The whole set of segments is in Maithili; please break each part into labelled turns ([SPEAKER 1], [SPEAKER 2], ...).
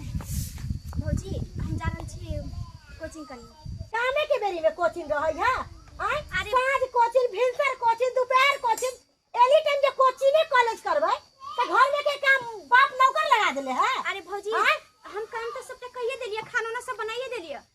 [SPEAKER 1] भौजी हम जा रहल छी कोचिंग करने कामे के बेरी में कोचिंग रहै है आय अरे- साँझ कोचिंग भिनसर कोचिंग दोपहर कोचिंग एनी टाइम जे कोचिंगे कॉलेज करबै त घर में के काम बाप नौकर लगा देले है अरे भौजी आँय?
[SPEAKER 2] हम काम तो सबटा कहिए देलिए खाना ना सब बनाइए देलिए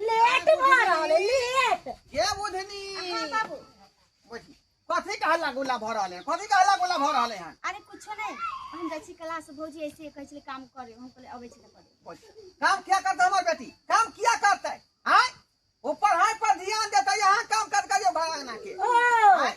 [SPEAKER 2] लेट भ
[SPEAKER 1] रहल है लेट के बुधनी
[SPEAKER 3] हाँ
[SPEAKER 2] बाबू बैठी।
[SPEAKER 3] कथी के हल्ला गुल्ला भऽ रहल है कथी के हल्ला गुल्ला भऽ रहल है अरे कुछो नहीं
[SPEAKER 2] हम जाइ छी क्लास से भौजी ऐसे कहै छलै काम करे हम कहले अबै छी त करे बैठी। काम किया करते हमर
[SPEAKER 3] बेटी काम किया करते आय ओ पढ़ाई पर ध्यान देते यहाँ काम कर करियो भगवान के ओ आय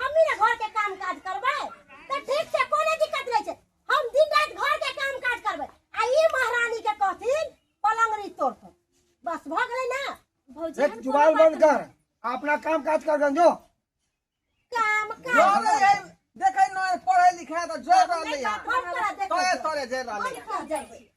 [SPEAKER 1] हमनी ने घर के काम काज करबे तो ठीक से कोनो दिक्कत नहीं छे हम दिन रात घर के काम काज करबे आ ई महारानी के कहथिन पलंगरी तोड़ तो बस भ गेलै ना भौजी एक हम जुबान
[SPEAKER 2] कोनो बंद बात
[SPEAKER 4] कर अपना काम काज कर गंजो
[SPEAKER 1] काम जो काज ले जाए, देखे न
[SPEAKER 3] पढ़े लिखे तो जो रहले है। हम तोरा देख तोरे
[SPEAKER 1] तोरे जे रहले है। कर
[SPEAKER 3] जाई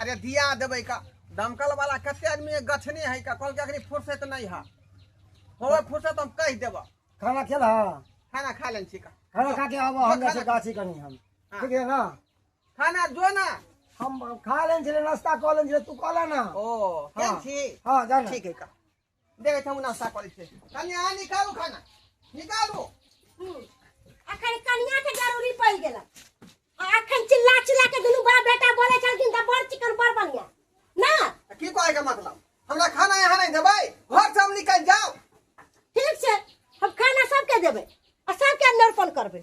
[SPEAKER 4] अरे दिया देबै
[SPEAKER 3] का दमकल वाला कते आदमी के गछने है का कहलकै अखनी फुर्सत नहीं है होवे फुर्सत हम कह देबऽ खाना खेल हाँ
[SPEAKER 4] खाना खा लेन छी
[SPEAKER 3] का खाना खा के आबो हम
[SPEAKER 4] जैसे गाछी कनी हम हाँ। ठीक है ना खाना जो
[SPEAKER 3] ना हम खा
[SPEAKER 4] लेन छले नाश्ता कऽ लेन छले तू कहला ना ओ हाँ। केन छी
[SPEAKER 3] हाँ जाना
[SPEAKER 4] ठीक
[SPEAKER 3] है का देखै छौ नास्ता करै छै कन्या आ निकालू खाना निकालू
[SPEAKER 1] अखन कन्या के जरूरी पड़ गेल आ अखन चिल्ला चिल्ला के दुनू बाप बेटा बोले छलखिन त बड़ चिकन बड़ बढ़िया ना आ की कहै के
[SPEAKER 3] मतलब हमरा खाना यहाँ नहीं देबै घर से हम निकल जाओ ठीक छै
[SPEAKER 1] हम खाना सबके देबै आ सबके नर्पण करबै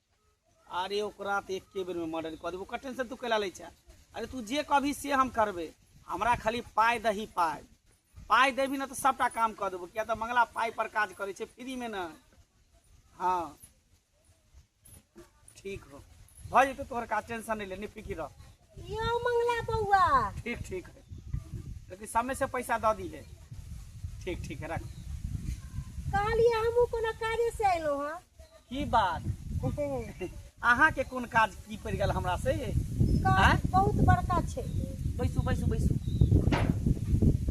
[SPEAKER 5] अरे ओकरा तऽ एके बेरमे मर्डर कऽ देबो कठिन से तू कैला लै छै अरे तू जे कहबी से हम करबै हमरा खाली पाइ दही पाइ पाइ देबी ने तऽ सभटा काम कऽ देबो किया तऽ मंगला पाइ पर काज करै छै फ्रीमे ने हँ ठीक हो भऽ जेतौ तोहर काज टेंशन नहि ले निफिकिर रह यो मंगला
[SPEAKER 1] बउआ ठीक ठीक है
[SPEAKER 5] लेकिन समय से पैसा दऽ दी है ठीक ठीक है रख
[SPEAKER 1] कहलिए हमहू कोनो काजे से अयलो हँ की बात
[SPEAKER 5] अहाँ के कोन काज की पड़ गल हमरा से काज
[SPEAKER 1] बहुत बड़का छै बैसू बैसू
[SPEAKER 5] बैसू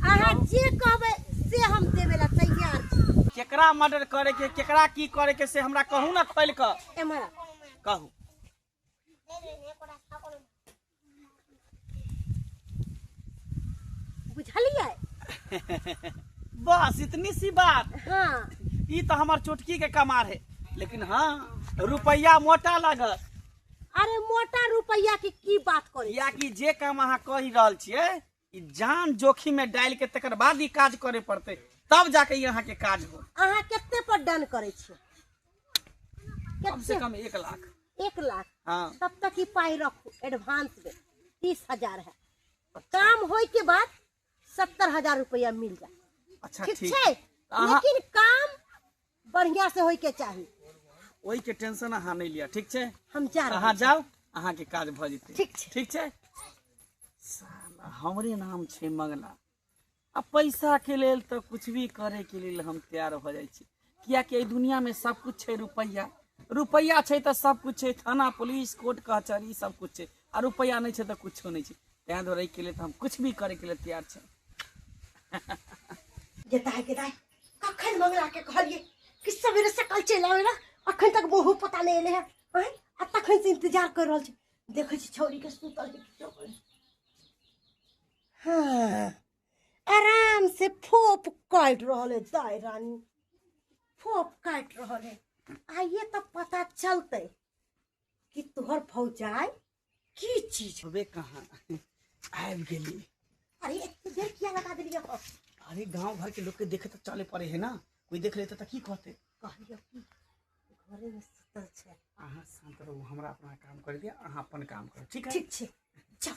[SPEAKER 1] अहाँ जे कहबै से हम देबे ला तैयार छी केकरा मर्डर करे
[SPEAKER 5] के केकरा की करे के से हमरा कहू ना खोल कऽ एम्हर
[SPEAKER 1] कहू बुझलियै बस
[SPEAKER 5] इतनी सी बात हाँ ई
[SPEAKER 1] तो हमार
[SPEAKER 5] चुटकी के कमार है लेकिन हाँ रुपया मोटा लागत अरे
[SPEAKER 1] मोटा रुपया के की बात करी या कि जे काम अहाँ
[SPEAKER 5] कहि रहल छियै ई जान जोखिम में डालि के तकर बाद ई काज करे पड़ते तब जाके ई अहाँ के काज हो अहाँ कते पर डन
[SPEAKER 1] करै छियै कम से
[SPEAKER 5] कते कम एक लाख एक लाख हाँ
[SPEAKER 1] तब तक ई
[SPEAKER 5] पाइ
[SPEAKER 1] रखू एडवांस में तीस हजार है काम होय के बाद सत्तर हजार रुपया मिल जाए अच्छा ठीक
[SPEAKER 5] ठीक छै
[SPEAKER 1] अहाँ- लेकिन काम बढ़िया से होय के चाही ओहि के
[SPEAKER 5] टेंशन अहाँ नहीं लिया ठीक छै हम जा रहे अहाँ जाओ
[SPEAKER 1] अहाँ के काज
[SPEAKER 5] भ जेतै ठीक छै। ठीक छै साला हमरे नाम छै मंगला आ पैसा के लेल तऽ कुछ भी करे के लेल हम तैयार भ जाइ छी कियाकि एहि दुनिया में सब कुछ छै रुपैया रुपैया छै तऽ सब कुछ छै थाना पुलिस कोर्ट कचहरी सब कुछ छै आ रुपैया नहीं छै तऽ कुछो नहीं छै तैं दुआरे एहि के लेल तऽ हम कुछ भी करे के लेल तैयार छै
[SPEAKER 1] गेदाय गेदाय कखन मंगला के कहलिए कि सवेरे से कल चलि आवे ना अखन तक वो पता नहीं एले है आय आ तखन से इंतजार कर रहल छी देखै छी छौरी के सुतल के किछो करै छै। हाँ आराम से फोप काट रहल है दाय रानी फोप काट रहल है आइए तो पता चलते कि तोहर फौजाई की चीज होबे कहाँ
[SPEAKER 5] आबि गेली अरे एते
[SPEAKER 1] देर किया लगा देलिए हो अरे गांव भर
[SPEAKER 5] के लोग के देखे तो चले पड़े है ना कोई देख लेते तो की कहते कहलिए कि
[SPEAKER 1] घरे में सुतल छै अहाँ शांत रहू
[SPEAKER 5] हमरा अपना काम कर दिया अहाँ अपन काम करू ठीक है ठीक छै चल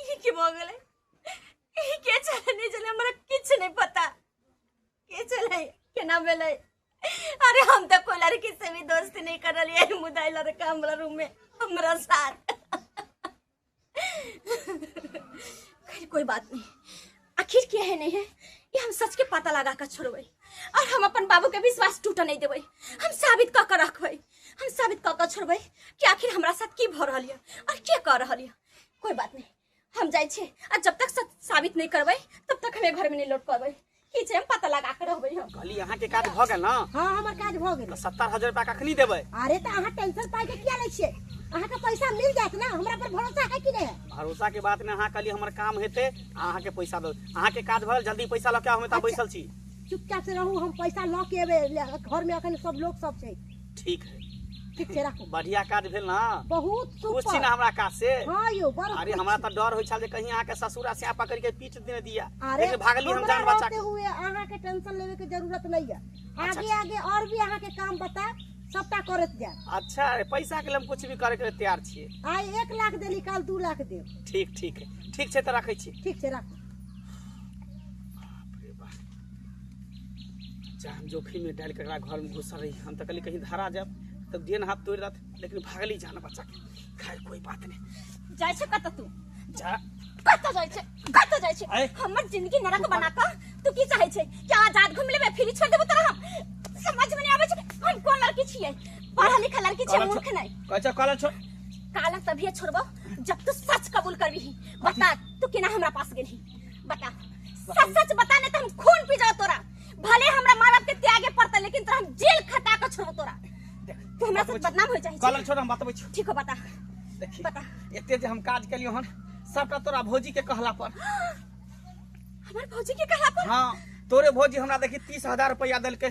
[SPEAKER 2] ई की भऽ गेलै ई के छलै नहि छलै हमरा किछु नहि पता के छलै केना भेलै अरे हम तऽ कोई लड़की से भी दोस्ती नहीं कर रही है मुदा ई लड़का हमरा रूम में हमरा साथ खैर कोई बात नहीं आखिर के है नहीं है ये हम सच के पता लगा कर छोड़बै और हम अपन बाबू के विश्वास टूट नहीं देबै हम साबित कऽ के रखबै हम साबित कऽ के छोड़बै कि आखिर हमरा साथ की भऽ रहल यऽ और के कऽ रहल यऽ कोई बात नहीं हम जाइ छी आ जब तक सच साबित नहीं करबै तब तक हमें घर में नहीं लौट पबै की छै हम पता लगा के रहबै हम कहली अहाँ के काज भऽ गेल
[SPEAKER 5] ना हां हमर काज भऽ गेल
[SPEAKER 1] सत्तर हजार रुपया कखनी
[SPEAKER 5] देबै अरे त अहाँ टेंशन
[SPEAKER 1] पाइ के किया लै छियै अहाँ के पैसा मिल जात ना हमरा पर भरोसा है कि नहीं भरोसा के बात में अहाँ
[SPEAKER 5] कहली हमर काम हेते अहाँ के पैसा दो अहाँ के काज भऽ जल्दी पैसा लऽ के हम एतऽ अच्छा। बैसल छी चुपचाप से रहू हम
[SPEAKER 1] पैसा लऽ के एबै घर में अखन सब लोग सब छै ठीक है
[SPEAKER 5] ठीक छै राखू
[SPEAKER 1] बढ़िया काज भेल ना
[SPEAKER 5] बहुत खुश छी सुपर
[SPEAKER 1] ना हमरा काज
[SPEAKER 5] से
[SPEAKER 1] हाँ
[SPEAKER 5] यौ बड़ अरे खुश
[SPEAKER 1] हमरा छी। तऽ डर होइ छल
[SPEAKER 5] जे कहीं अहाँके ससुरा से पकड़ के पीट देने दिया अरे लेकिन भागली हम हमरा
[SPEAKER 1] जान बचा
[SPEAKER 5] रहते के हुए
[SPEAKER 1] अहाँ
[SPEAKER 5] के टेंशन
[SPEAKER 1] लेवे के जरूरत नहीं है अच्छा। आगे आगे और भी अहाँ
[SPEAKER 5] के काम
[SPEAKER 1] बता सबटा करत जाए अच्छा अरे पैसा
[SPEAKER 5] के लिए हम कुछ भी करे के लिए तैयार छियै आइ एक लाख देली
[SPEAKER 1] काल दू लाख देब ठीक ठीक है
[SPEAKER 5] ठीक छै तऽ रखै छी ठीक छै राखू जान जोखिम में डाल के एकरा घर में घुसल रही हम तो कहली कहीं धरा जाब तब देन हाथ तोड़ रहा लेकिन भागली जान बच्चा के खैर कोई बात नहीं जाइ छै कतऽ तू
[SPEAKER 2] जा
[SPEAKER 5] कतऽ जाइ
[SPEAKER 2] छै कतऽ जाइ छै अरे। हमर जिंदगी नरक
[SPEAKER 5] बना
[SPEAKER 2] कऽ तू की चाहै छै कि आजाद घूम लेबे फ्री छोड़ देबो तोरा हम समझ में नहीं आबै छै हम कोन लड़की छियै पढ़ा लिखा लड़की छियै कॉलेज मूर्ख नहीं अच्छा कॉलेज छोड़
[SPEAKER 5] काला तभिए
[SPEAKER 2] छोड़बो जब तू सच कबूल करबी बता तू केना हमरा पास गेलही बता सच सच बता नहीं तो हम खून पी जाओ तोरा भले हमरा माँ बाप के त्यागे पड़ता लेकिन तोरा हम जेल खटा के छोड़ो तोरा तू हमरा साथ बदनाम हो चाहिए कलर छोड़ हम बतबै छी ठीक
[SPEAKER 5] हो बता
[SPEAKER 2] देखी
[SPEAKER 5] बता। एते जे
[SPEAKER 2] हम काज
[SPEAKER 5] केलियो हन सबटा तोरा भौजी के कहला पर
[SPEAKER 2] हमारे भौजी के कहा पर हाँ तोरे भौजी
[SPEAKER 5] हमरा देखी तीस हजार रुपया देलकै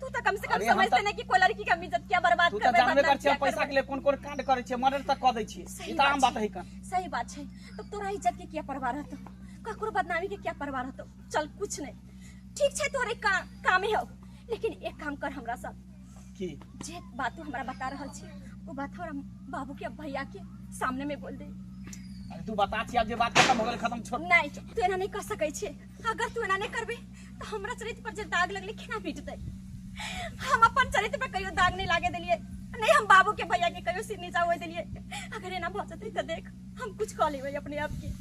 [SPEAKER 2] तू तो कम से कम अरे हम समझते तो- नहीं कि कोई लड़की
[SPEAKER 5] का
[SPEAKER 2] इज्जत क्या बर्बाद तू तऽ करबे जानबे बदनाम कर क्या छियै पैसा
[SPEAKER 5] करबे। के
[SPEAKER 2] लिए कोन
[SPEAKER 5] कोन कांड
[SPEAKER 2] करै
[SPEAKER 5] छियै मर्डर तक कऽ दै छियै सही ई तऽ आम बात बात छै। है कन सही बात छै तो
[SPEAKER 2] तोरा इज्जत के क्या परवाह रहतो ककरो बदनामी के क्या परवाह रहतो चल कुछ नहीं ठीक छै तोरे का, कामे हो लेकिन एक काम कर हमरा साथ की जे बात
[SPEAKER 5] तू हमरा
[SPEAKER 2] बता रहल छी वो बात हमरा बाबू के भैया के सामने में बोल दे अरे तू बता
[SPEAKER 5] छियै आब जे बात खत्म हो गेल खत्म छोड़ नहीं तू एना नहीं कर
[SPEAKER 2] सकै छै अगर तू एना नहि करबे तऽ हमरा चरित्र पर जे दाग लगले केना मिटतै हम अपन चरित्र पर कहियो दाग नहि लागे देलियै नहि हम बाबू के भैया के कहियो सिर नीचा होए देलियै अगर एना भऽ जेतै तऽ देख हम कुछ कऽ लेबै अपने आप के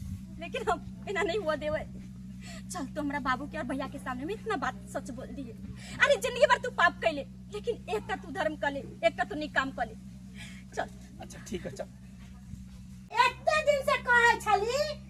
[SPEAKER 2] लेकिन हम एना नहीं हुआ देबै चल तो हमरा बाबू के और भैया के सामने में इतना बात सच बोल दिए अरे जिंदगी भर तू पाप कैले लेकिन एक का तू धर्म कले एक का तू निक काम कले चल अच्छा ठीक है चल
[SPEAKER 1] एते दिन से कहै छली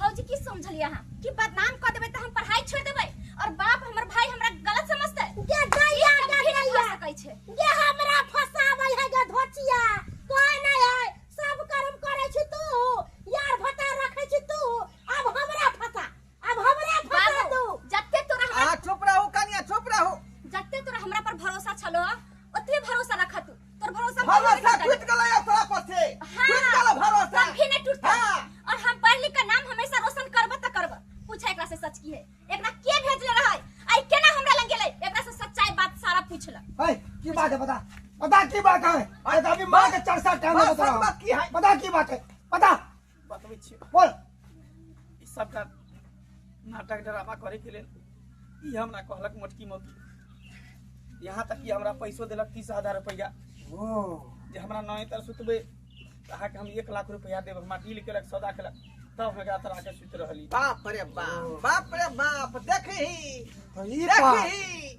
[SPEAKER 2] भौजी की समझलिए अहाँ कि बदनाम कर देबै तऽ हम पढ़ाई छोड़ देबै और बाप हमर भाई हमरा गलत समझतै गे गैया
[SPEAKER 1] गे गैया सकै
[SPEAKER 2] छै गे हमरा
[SPEAKER 1] फसाबै है गे धोचिया कोई नै है सब कर्म करै छी तू यार भटा रखै छी तू अब हमरा फसा अब हमरा फसा
[SPEAKER 2] तू जत्ते
[SPEAKER 1] तोरा हमरा
[SPEAKER 2] चुप रहू कनिया चुप
[SPEAKER 3] रहू जत्ते तोरा हमरा
[SPEAKER 2] पर भरोसा छलो ओतबे भरोसा रख तू तोर भरोसा पर भरोसा नहीं टूट टूटता।
[SPEAKER 3] गेलै ओकरा पर से हाँ, टूट गेलै भरोसा कभी नहीं टूटता हाँ।
[SPEAKER 2] और हम पढ़
[SPEAKER 3] लिख कर
[SPEAKER 2] नाम हमेशा रोशन करब त करब पूछा एकरा से सच की है एकरा के भेजले रहै आई केना हमरा लग गेलै एकरा से सच्चाई बात सारा पूछला है की बात है
[SPEAKER 4] बता बता की बात है अरे तो अभी माँ के चर्चा टाइम बस, बता बस, बस, की है? बता की
[SPEAKER 3] बात है
[SPEAKER 4] बता बतबै छी
[SPEAKER 5] बोल
[SPEAKER 4] ई
[SPEAKER 5] सबटा नाटक ड्रामा करैके लेल ई हमरा कहलक मोटकी मोती यहाँ तक कि हमरा पैसो देलक तीस हजार रुपैआ ओ
[SPEAKER 4] जे हमरा
[SPEAKER 5] नए तर सुतबै तऽ अहाँके हम एक लाख रुपैआ देब हमरा डील केलक सौदा केलक तब हम एकरा तरह के सुति रहली बाप रे बाप
[SPEAKER 3] बाप रे बाप देखही तो ई
[SPEAKER 4] देखही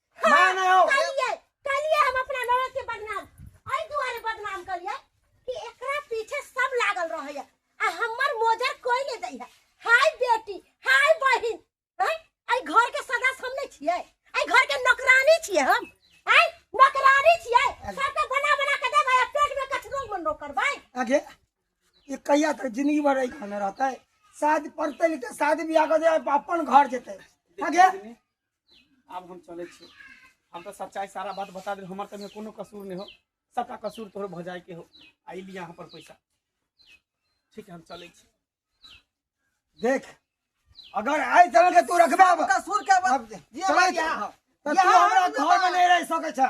[SPEAKER 4] माय ना हो कलिए कलिए हम
[SPEAKER 1] अपना ननद के बदनाम एहि दुआरे बदनाम कलिए कि एकरा पीछे सब लागल रहे है आ हमर मोजर कोई ले जाइए हाय बेटी हाय बहिन हैं आई घर के सदस्य हम नहीं छिए आई घर के नौकरानी छिए हम आई नौकरानी छिए सबके बना बना के देबै आ पेट में कचरो मन रो करबै आगे
[SPEAKER 4] ये कहिया तक जिंदगी भर रही खाना रहता है शायद पढ़ते लिखते शादी ब्याह कर दे अपन घर जेते आगे
[SPEAKER 5] आब हम चले छी हम तो सच्चाई सारा बात बता दे हमार तमे कोनो कसूर नहीं हो सबका कसूर तोहर भ जाए के हो आई लिया यहाँ पर पैसा ठीक है हम चले छी
[SPEAKER 4] देख अगर आइ तरह के तू रखबे अब कसूर के अब बात ये
[SPEAKER 3] चले बात
[SPEAKER 4] छी।
[SPEAKER 3] यहाँ
[SPEAKER 4] हो। त
[SPEAKER 3] तू
[SPEAKER 4] यहाँ
[SPEAKER 3] हमरा
[SPEAKER 4] हम घर में लोग- नहीं रह सके छ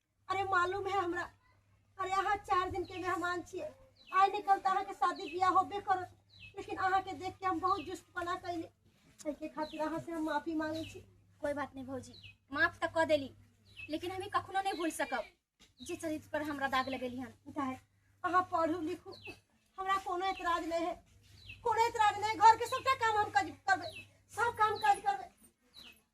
[SPEAKER 1] अरे मालूम है हमरा अरे अहाँ चार दिन के मेहमान छिए आइ नहि कल तऽ अहाँके शादी बियाह होबे करत लेकिन अहाँके देख के हम बहुत जुस्तपना कैली एहिके खातिर अहाँ से हम माफी मांगे छी कोई बात नहीं भौजी
[SPEAKER 2] माफ तऽ कऽ देली लेकिन हमी कखनो नहीं भूल सकब जे चरित्र पर हमरा दाग लगेली हन उतार अहाँ
[SPEAKER 1] पढ़ू लिखू हमरा कोनो एतराज नहीं है कोनो एतराज नहीं घर के सबटा काम हम कर- करबै सब काम काज करबै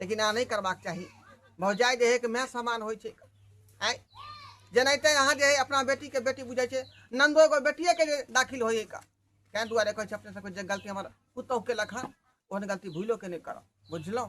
[SPEAKER 3] लेकिन अहाँ नहि करबाक चाही भौजाइ जे है कि माय समान होइ छै आँय जेनाहिते अहाँ जे है अपना बेटीके बेटी बुझै छै नन्दो एगो बेटिएके जे दाखिल होइ का तैँ दुआरे कहै छै अपने सबके जे गलती हमर पुतहु केलक हन ओहन गलती भूलो के नहि करब बुझलहुँ